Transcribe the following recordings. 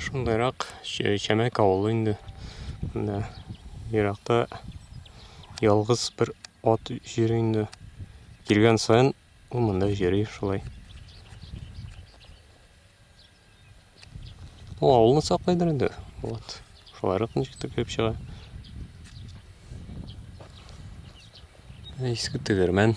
шундайрак чәмәк авылы инде мында еракта ялгыз бер ат йөри инде килгән саен ул монда йөри шулай Ул авылны саклыйдыр инде. Вот. Шуларык ничек тә килеп чыга. Иске тегермән.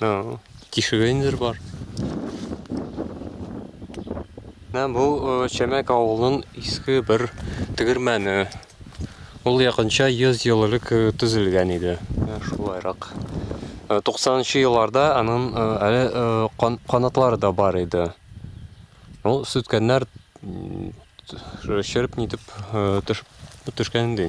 Ну, тишеге инде бар. Менә бу э, Чәмәк авылының иске бер тегермәне. Ул якынча 100 ел элек э, төзелгән иде. Э, шулайрак. 90-нчы елларда аның әле канатлары да бар иде. Ул сүткәннәр шереп нитеп төшкән ди.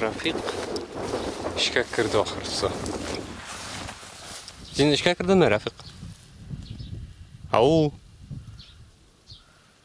Рафик эшкә керде ахырсы. Син эшкә кердеңме, Рафик? Ау.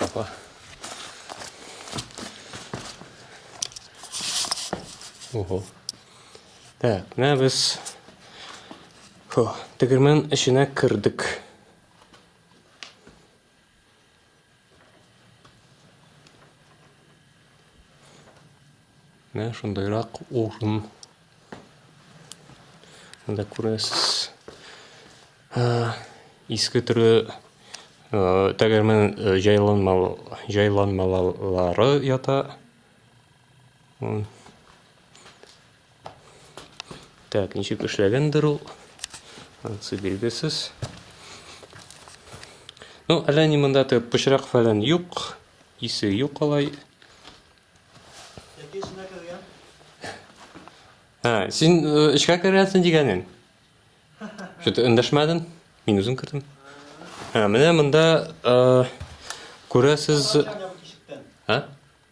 Опа. Ого. Так, менә без Хо, тегермән эченә кердек. Менә шундайрак урын. Монда күрәсез. Иске төрле тәгәрмән җайланмалары ята. Так, ничек эшләгәндер ул? Ансы билгесез. Ну, әллә ни монда тек пычрак фәлән юк, исе юк алай. Яки эченә кергән? Ха, син э, эчкә кергәнсең дигәнен. Что-то эндәшмәдең? Мин үзем кердем. Ха, менә монда э, күрәсез. Ачам я бу тишектән. Ха?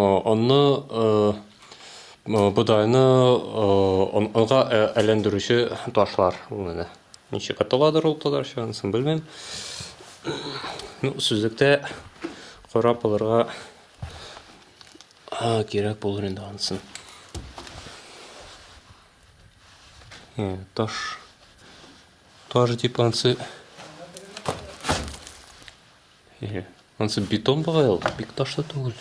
Онны, бодайны онга әйләндерүче ташлар ул менә. Ничек аталадыр ул татарча, анысын белмим. Ну, сүзлектә карап алырга кирәк булыр инде анысын. Таш таш дип ансы Әйе. Ансы бетон бугай ул, бик ташлы түгел.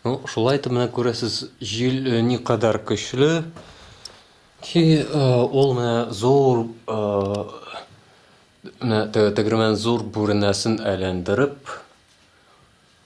Ну, шулай итеп менә күрәсез, җил э, ни кадәр көчле ки э, ул менә зур э, менә тәгәрмән зур бүренәсен әйләндереп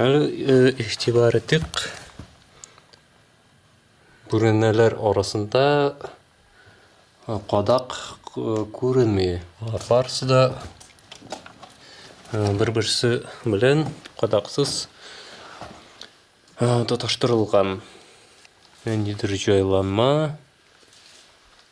Әле игътибар итик. Бүрәнәләр арасында кадак күренми. Алар барысы да бер-берсе белән кадаксыз тоташтырылган. Ниндидер җайланма.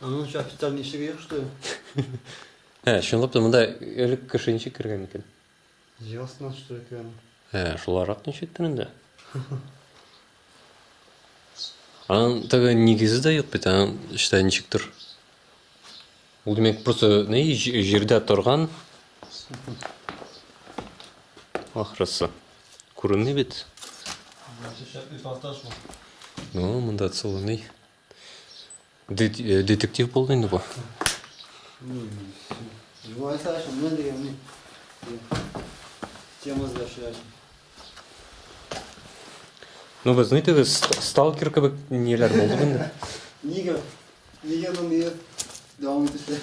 А ну сейчас официальный сырье, что ли? Ә, чынлап та монда элек кеше ничек кергән икән? Ясно, что это. Ә, шуларак ничек кенә дә. Аның тагы нигезе дә юк бит, аның эчтә ничектер. Ул димәк просто ни җирдә торган. Ахрысы. Күренми бит. Ну, монда целый. Детектив булды инде бу. Тема сдачи. Ну, вы знаете, вы сталкер кебек ниләр булды инде. Нигә? Нигә моны дәвам итәсе?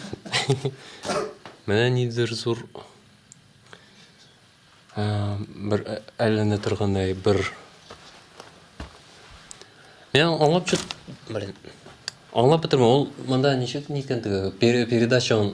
Менә нидер зур бер әлләнә торгандай бер Мен аңлап чык, блин. Аңлап бетермә, ул монда ничек никәндеге, передача он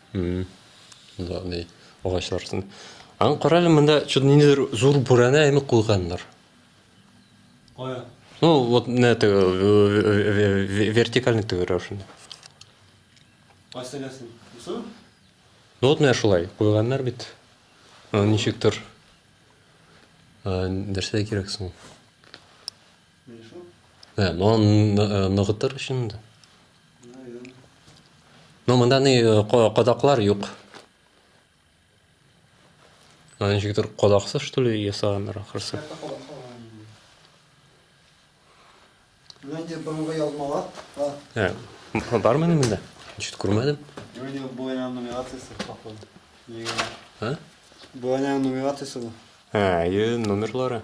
Андый агачлар өстендә. Аны карале, монда чут ниндидер зур бүрәнә әйме куйганнар. Кая? Ну, вот на это вертикальный төгер рәвешендә. Кайсыгасың? Бусы? Ну, вот менә шулай куйганнар бит. Ничектер. Нәрсә кирәк соң? Ә, ну, ныгытыр өчен инде. Ну, монда ни э, кадаклар юк. Аны ничектер кадаксыз, что ли, ясаганнар ахырсы. Менә инде борынгы язмалар. Ә, бармы монда? Ничек күрмәдем. Юрий Буян нумерациясе походу. Егерме. А? Буян нумерациясе бу. Ә, е номерлары.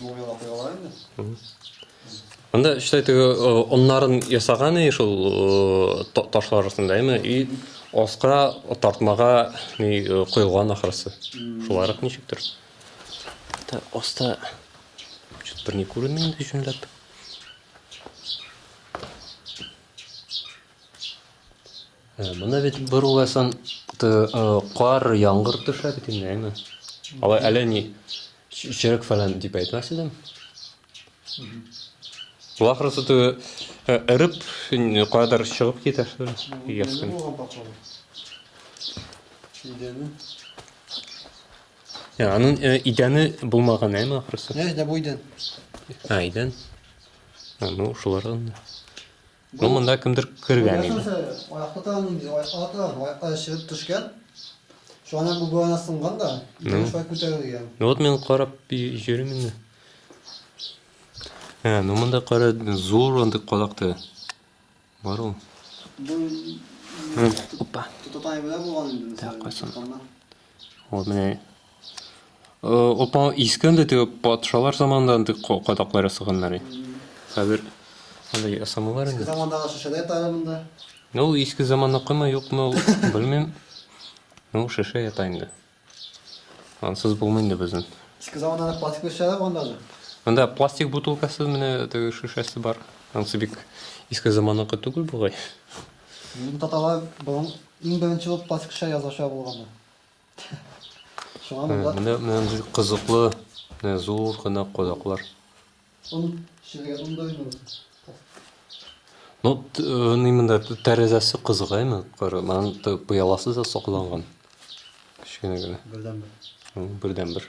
Мобил вакыйгалар инде. Анда эшләй теге оннарын ясаган и шул ташлар арасында, әйме? И аска тартмага ни коелган ахрысы. Шуларак ничектер. Та аста чөт бер ни күренми инде җүнләп. Э, Мына бит бер уйласан, э, кар, яңгыр төшә бит инде, әйме? Алай әле ни Черек фәлән дип әйтмәс идем. Бу ахрысы ту эреп кадәр чыгып китә. Яскын. Идәне. Я, аның э, идәне булмаган әйме ахрысы. Нәҗдә бу идән. А, идән. А, ну, шулардан. Ну, монда кемдер кергән иде. Ну, вот мен карап йөрим инде. Ә, ну монда кара зур андый кадакты. Бар ул. Опа. Тотатайбыда булган инде. Так, кайсын. Вот менә Опа искән дә теге патшалар заманында андый кадаклар ясаганнар. Хәзер андый ясамалар инде. Замандагы шешәдә тары монда. Ну, иске заманныкымы, юкмы, белмим. Ну, шешә ята инде. Ансыз булмый инде безнең. Иске замандагы пластик шешәләр булган даже. Монда пластик бутылкасы менә теге шешәсе бар. Ансы бик иске заманныкы түгел бугай. Мин таталар борын Иң беренче булып Паскша язача булганы. Шуңа монда... Менә, менә кызыклы, менә зур гына кадаклар. Он шилгә ундой ну. Ну, э, ни монда тәрәзәсе кызык әйме? Кара, монда пыяласы да сакланган. Кечкенә генә. Бердән бер. Бердән бер.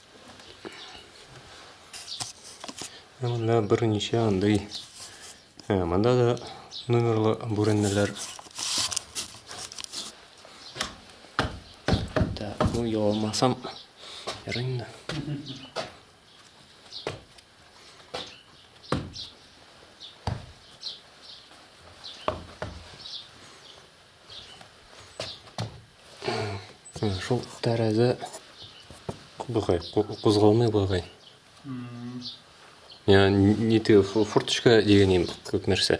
Менә берничә андый. Ә, монда да номерлы бүрәннеләр. Так, бу яламасам ярый инде. Шул тәрәзә бугай, кузгалмый бугай. Я не ты форточка дигәнем күп нәрсә.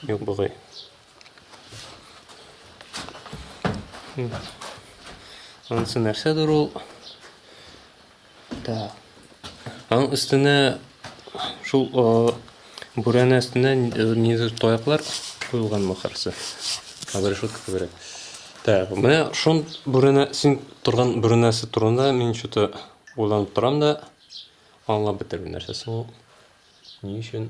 Юк бугай. Ансы нәрсәдер ул? Так. Аның өстенә шул бүрәнә өстенә нидер таяклар куелган махарсы. Хәзер шул күбрәк. Так, менә шул бүрәнә син торган бүрәнәсе турында мин что-то уйланып торам да аңлап бетермим нәрсәсе ул. Ни өчен?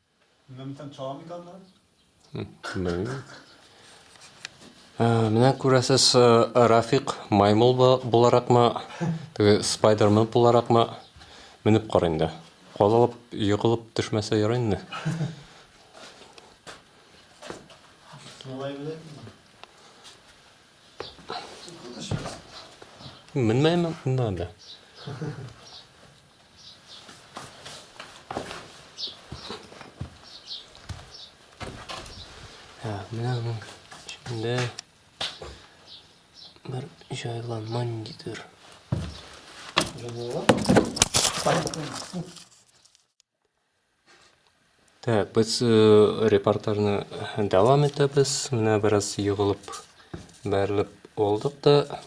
Менә бүтән чамиканнар. Белмим. Э, менә күрәсез, э, Рафик маймыл буларакмы, теге Спайдермен буларакмы менеп кар инде. Калып, егылып төшмәсә яра инде. Менмәйме? Менмәде. Менә аның эчендә бер җайланма ниндидер. Җайланма? Так, без э, репортажны дәвам итәбез. Менә бераз егылып, бәрелеп алдык та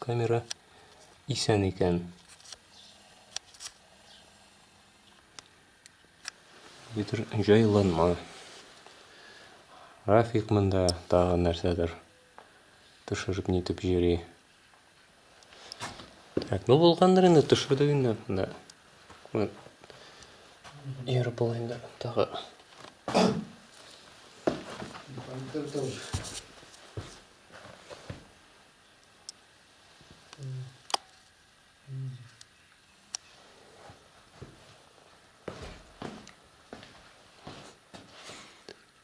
камера исән икән. Битер җайланма. Рафик монда тагын нәрсәдер төшереп нитеп йөри. Так, ну булгандыр инде, төшердек инде. Да. Күңел. Ер бул инде. Тагы.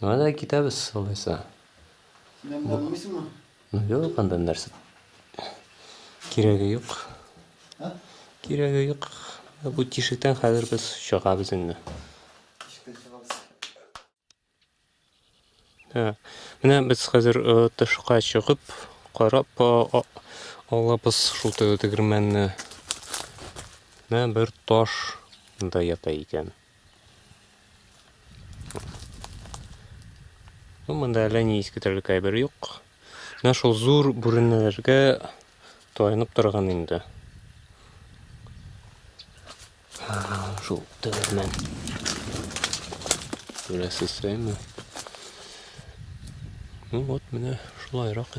Менә дә китәбез алайса. Синәм белмисеңме? Ну юк, анда нәрсә. Кирәге юк. Кирәге юк. Бу тишектән хәзер без чыгабыз инде. Менә без хәзер э, тышка чыгып, карап э, алабыз шул тегермәнне. Менә бер таш да ята икән. Ну, монда әллә ни искетерлек әйбер юк. Менә шул зур бүренеләргә таянып торган инде. Шул тәгәрмән. Күрәсезме? Ну вот менә шулайрак.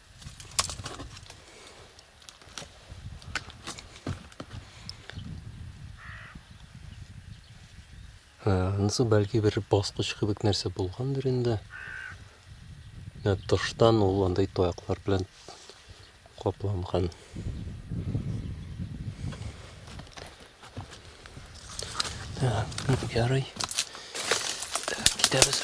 Анысы бәлки бер баскыч кебек нәрсә булгандыр инде. Менә тыштан ул андай таяклар белән капланган. Ярый. Китәбез.